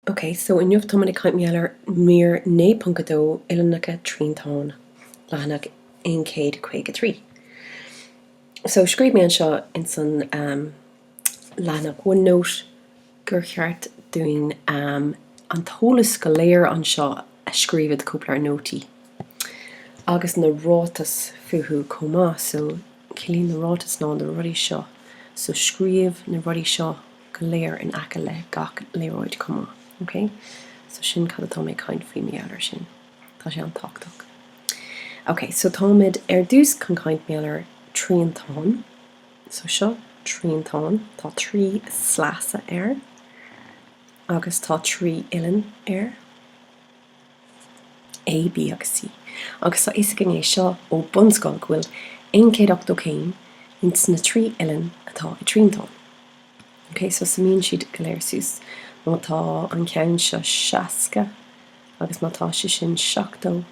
Ok so inniu táimid ag caint mar gheall ar mír 9.2 uillinneacha triantáin, leathanach 153. So scríobh mé anseo ins an ehm leathanach OneNote gur cheart dúinn ehm an t-eolas go léir anseo a scríobh id cóipleabhar nótaí agus na ráitis fúthu chomh maith so ciallaíonn na ráitis ná na rudaí seo so scríobh na rudaí seo go léir in aice le gach léaráid chomh maith. Ok? So sin cad atá mé ag caint faoi mar gheall ar sin. Tá sé an-tábhachtach. Ok, so táimid ar dtús chun caint mar gheall ar triantán. So seo triantán, tá trí sleasa air agus tá trí uillinn air. A, B agus C, agus tá a fhios ag éinne seo ó bunscoil go bhfuil 180 céim ins na trí uillinn atá i dtriantán. Ok, so suimíonn siad go léir suas. Má tá an ceann seo 60 agus má tá sé sin 70,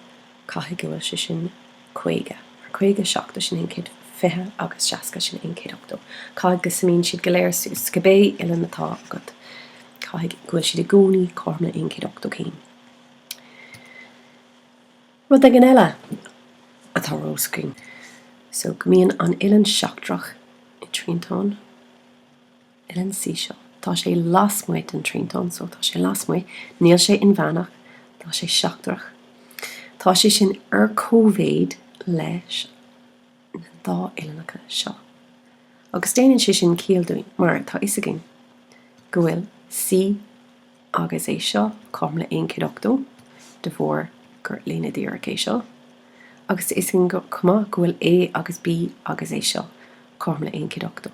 caithfidh go bhfuil sé sin 50. Ar caoga, seachtó, sin aon chéad fiche agus seasca, sin aon chéad ochtó, caithfidh go suimíonn siad go léir suas, cibé uillinn atá agat, caithfidh go bhfuil siad i gcónaí cothrom le aon chéad ochtó céim. Rud éigin eile atá ar do scrín so go mbíonn an uillinn seachtrach i dtriantán. uillinn C seo. Tá sé lasmuigh den triantán so tá sé lasmuigh, níl sé inmheánach, tá sé seachtrach. Tá sé sin ar comhéid leis na dá uillinneacha seo. Agus déanann sé sin ciall dúinn, mar tá fhios againn go bhfuil C agus é seo cothrom le 1 chéad ochtó de bharr gur líne dhíreach é seo. Agus tá fhios againn chomh maith go bhfuil A agus B agus é seo cothrom le 1 chéad ochtó.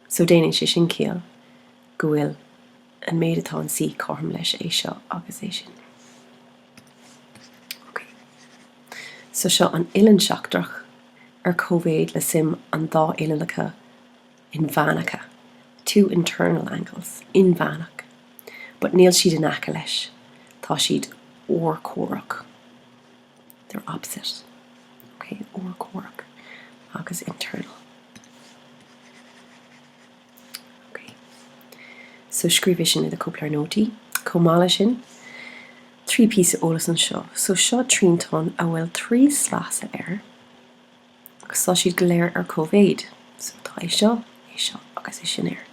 So déanann sé sin ciall go bhfuil an méid atá an C cothrom leis é seo agus é sin. Ok. So seo an uillinn seachtrach ar comhéid le suim an dá uillinneacha inmheánacha, two internal angles, inmheánach. But níl siad in aice leis, tá siad urchomhaireach. they're opposite, ok, urchomhaireach agus internal, ok, so scríobh é sin i do cóipleabhar nótaí. Chomh maith leis sin, trí píosa eolas anseo. So seo triantán a bhfuil trí slasa air. agus tá siad go léir ar cóimhéid so tá é seo, é seo agus é sin air,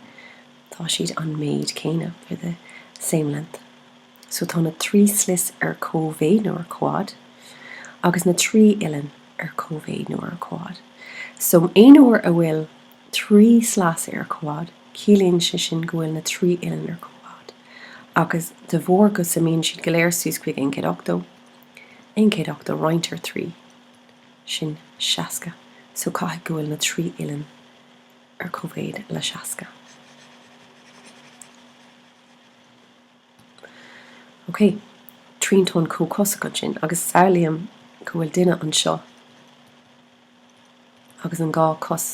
tá siad an méid céanna they're the same length so tá na trí shlios ar cóimhéid nó ar comhfhad agus na trí uillinn ar cóimhéid nó ar comhfhad so aon uair a bhfuil trí sleasa ar comhfhad ciallaíonn sé sin go bhfuil na trí uillinn ar comhfhad agus de bharr go suimíonn siad go léir suas chuig aon chéad ochtó aon chéad ochtó roinnt ar trí sin 60, so caithfidh go bhfuil na trí uillinn ar cóimhéid le 60. Ok, triantán comhchosach ansin, agus samhlaím go bhfuil duine anseo agus an dhá cos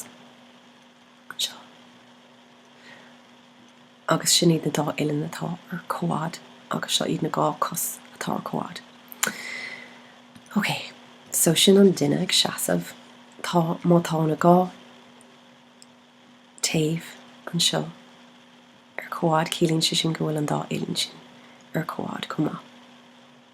anseo. agus sin iad na dá uillinn atá ar comhfhad agus seo iad na dhá cos atá ar comhfhad. Ok, so sin an duine ag seasamh, tá, má tá na dhá taobh anseo ar comhfhad ciallaíonn sé sin go bhfuil an dá uillinn sin ar comhfhad chomh maith.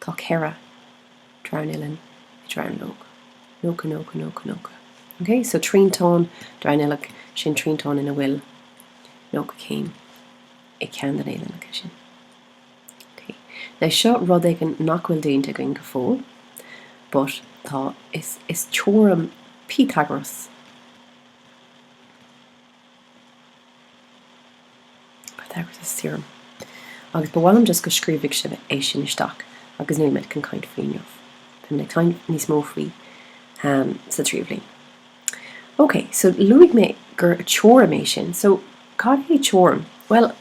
Tá ceithre dronuillinn i dronuilleog. Nócha, nócha, nócha, nócha. Ok? So triantán dronuilleach, sin triantán ina bhfuil nócha céim i gceann de na uillinneacha sin. Ok? Now seo rud éigin nach bhfuil déanta againn go fóill, but tá, is, is teoirim Pythagoras. Agus ba mhaith liom just go scríobhfaidh sibh é sin isteach agus níl mé ag caint faoi inniu. Tá mé ag caint níos mó faoi sa tríú bhliain. Ok, so luaigh mé gur teoirim é sin, so cad é teoirim? Bhuel,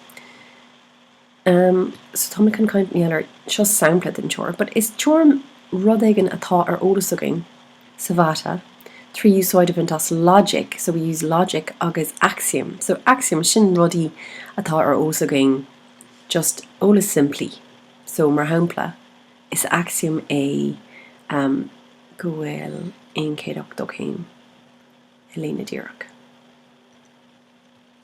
Umm, so tá mé chun caint níl ar, seo sampla den teoir, but is teoirim rud éigin atá ar eolas againn sa mhata trí úsáid a bhaint as logic, so we use logic agus axiom, so axiom, sin rudaí atá ar eolas againn, just eolas simplí. So, mar shampla, is axiom é umm go bhfuil aon chéad ochtó céim i líne díreach.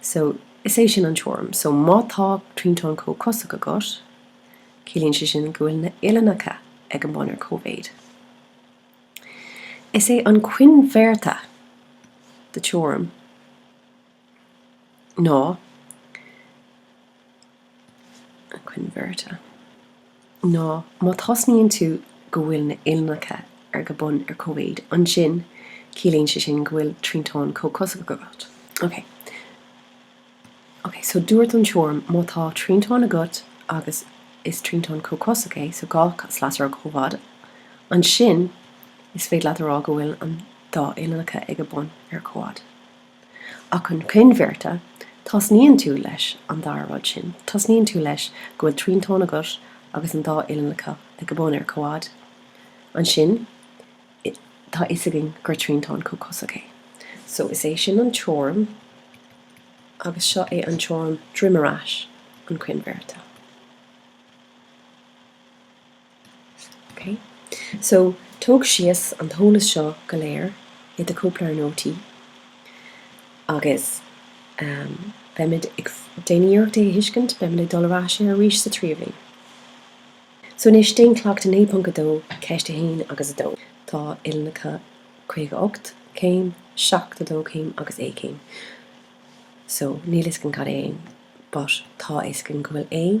So, is é sin an teoirim. So, má tá triantán comhchosach agat, ciallaíonn sé sin go bhfuil na uillinneacha ag an bun ar cóimhéid. Is é an coinbhéarta de teoirim ná. coinbhéarta ná má tosnaíonn tú go bhfuil na huillinneacha ar, ag a bun ar cóimhéid, ansin ciallaíonn sé sin go bhfuil triantán comhchosach agat. Ok. Ok, so dúirt an teoirim má tá triantán agat agus is triantán comhchosach é, so dhá shlios ar comhfhad, ansin is féidir leat a rá go bhfuil an dá uillinneacha ag a bun ar comhfhad. Ach an coinbhéarta, tosnaíonn tú leis an dara rud sin, tosnaíonn tú leis go bhfuil triantán agat agus an dá uillinneacha ag a bun ar comhfhad. Ansin tá fhios againn gur triantán comhchosach é. So is é sin an teoirim agus seo é an teoirim droim ar ais, an coinbhéarta. So, tóg síos an t-eolas seo go léir i do cóipleabhar nótaí agus beimid ag, déan iarracht é a thuiscint, beimid ag dul ar ais air arís sa tríú bhliain. So, anois déan Cleachtadh 9.2, Ceist 1 agus 2. Tá uillinneacha 58 céim, 72 chéim agus A céim. So, níl fhios againn cad é A, but tá fhios againn go bhfuil A,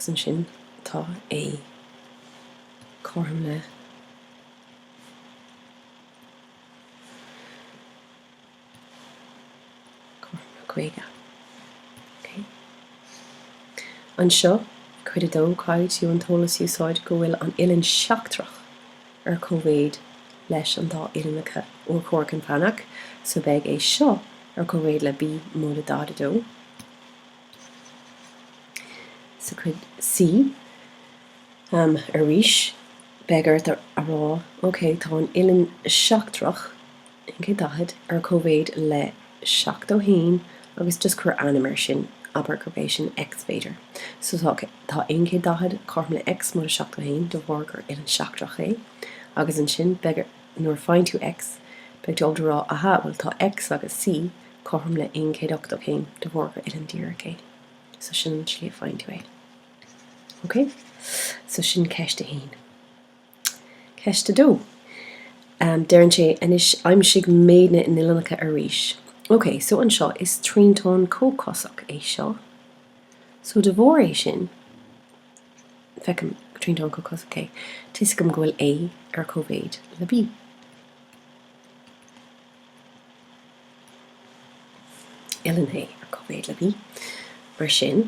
agus ansin tá A cothrom le cothrom le 50 ok anseo cuid 2 caithfidh tú an t-eolas a úsáid go bhfuil an uillinn seachtrach ar cóimhéid leis an dá uillinneacha urchomhaireach inmheánach so beidh é seo ar cóimhéid le b móide 42 Sa chuid C, arís, beidh ort a rá, OK, tá an uillinn sheachtrach, 140, ar cóimhéid le 71 agus just cuir ainm air sin, abair gurb é sin X, b'fhéidir. So, tá 140 cothrom le X móide 71 de bharr gur uillinn sheachtrach é agus ansin, beidh ort, nuair a faigheann tú X, beidh tú ábalta a rá, aha, bhuel, tá X agus C, cothrom le 180 céim de bharr gur uillinn díreach é. So sin an slí a faigheann tú é. Ok? So sin ceist a haon. Ceist a dó. Um, deireann sé, anois aimsigh méid na n-uillinneacha arís. Ok, so anseo is triantán comhchosach é seo. So de bharr é sin, feicim gur triantán comhchosach é, tuiscim go bhfuil A ar cóimhéid le B. uillinn A ar cóimhéid le B, mar sin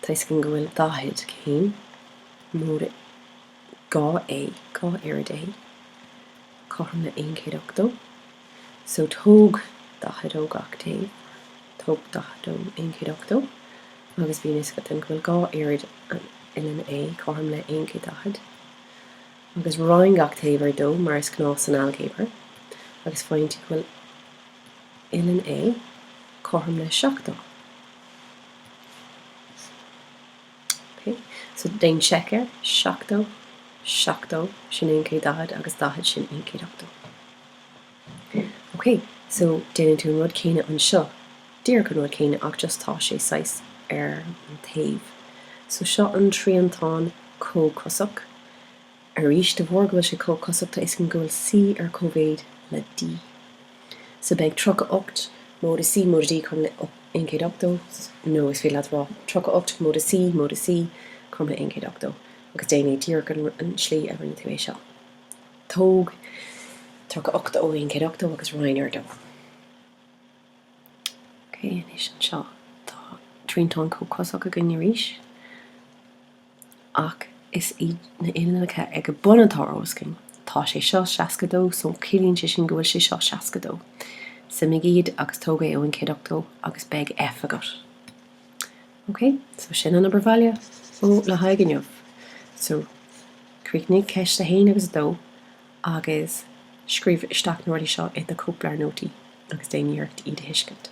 toisc go bhfuil daichead céim móide dhá A dhá oiread A cothrom le aon chéad ochtó so tóg daichead ó gach taobh tóg daichead ó aon chéad ochtó agus bhíonn fhios agat ansin go bhfuil dhá oiread an uillinn A cothrom le aon chéad daichead. agus roinn gach taobh ar dó mar is gnáth san ailgéabar, agus faigheann tú go bhfuil uillinn A cothrom le seachtó. Ok, so déan seic air, seachtó, seachtó, sin aon chéad daichead, agus daichead, sin aon chéad ochtó. OK, so déanann tú an rud céanna anseo, díreach an rud céanna ach just tá sé saghas ar an taobh. So seo an triantán comhchosach. Arís, de bharr go bhfuil sé comhchosach tá 'fhios againn go bhfuil C ar cóimhéid le D. So beidh 38 móide C móide D cothrom le 1 180, nó is féidir leat a rá 38 móide C móide C cothrom le 1 180 agus déan é díreach an slí a rinne tú é seo. Tóg tríocha ocht ó aon céad ochtó agus roinn ar a dó. Ok, anois anseo tá triantán comhchosach againn arís, ach is iad na uillinneacha ag an mbun atá ar eolas againn. Tá sé seo seasca dó, so ciallaíonn sé sin go bhfuil sé seo seasca dó. Suimigh iad agus tóg é ó aon céad ochtó agus beidh F agat. Ok, so sin an obair bhaile ó le haghaidh inniu. So, críochnaigh ceist a haon agus a dó agus scríobh isteach na rudaí seo i do chóipleabhar nótaí agus déan iarracht iad a thuiscint.